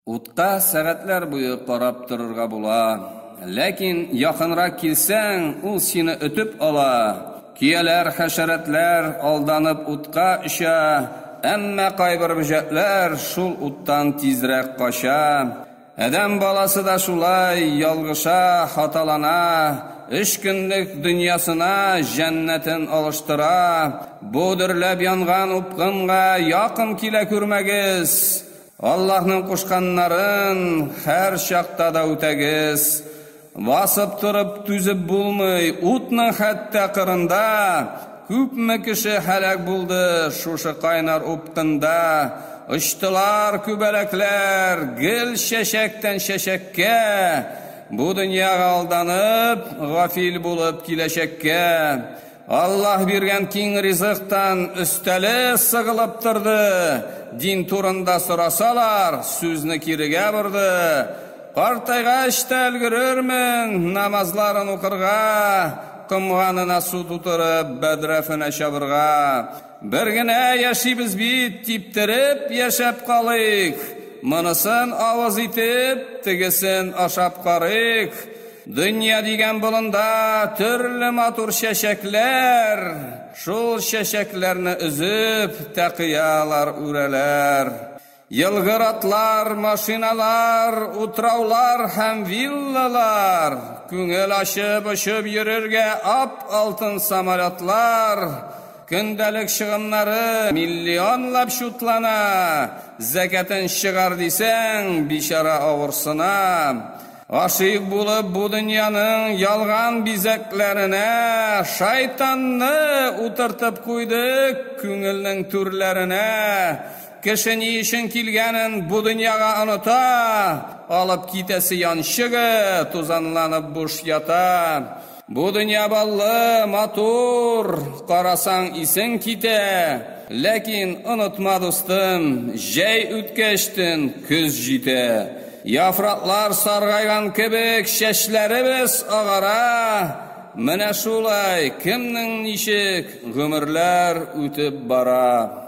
Утка сәгатьләр буе карап торырга була. Ләкин якынрак килсәң, ул сине өтеп ала. Көяләр, хәшәрәтләр алданып утка оча, әмма кайбер бөҗәкләр шул уттан тизрәк кача. Адәм баласы да шулай ялгыша, хаталана, өч көнлек дөньясына җәннәтен алыштыра. Бу дөрләп янган упкынга якын килә күрмәгез! Аллаһның кушканнарын һәр чакта да үтәгез. Басып торып түзеп булмый, утның хәтта кырында күпме кеше һәлак булды, шушы кайнар упкында очтылар күбәләкләр гел чәчәктән чәчәккә, бу дөньяга алданып, гафил булып киләчәккә. Аллаһ биргән киң ризыктан өстәле сыгылып торды, дин турында сорасалар, сүзне кирегә борды. Картайгач та өлгерермен намазларын укырга, комганына су тутырып, бәдрәфенә чабырга. Бер генә яшибез бит, типтереп яшәп калыйк, монысын авыз итеп, тегесен ашап карыйк. Дөнья дигән болында төрле матур чәчәкләр, шул чәчәкләрне өзеп, тәкыялар үрәләр. Елгыр атлар, машиналар, утраулар һәм виллалар, күңел ачып очып йөрергә ап-алтын самолетлар, көндәлек чыгымнары миллионлап чутлана, зәкятен чыгар дисәң, бичара авырсына. Гашыйк булып бу дөньяның ялган бизәкләренә, Шайтанны утыртып куйдык күңелнең түрләренә. Кеше ни өчен килгәнен бу дөньяга оныта, Алып китәсе янчыгы тузанланып буш ята. Бу дөнья баллы, матур, карасаң исең китә, ләкин онытма, дустым, җәй үткәчтен көз җитә. Яфраклар саргайган кебек чәчләребез агара. Менә шулай, кемнең ничек гомерләр үтеп бара.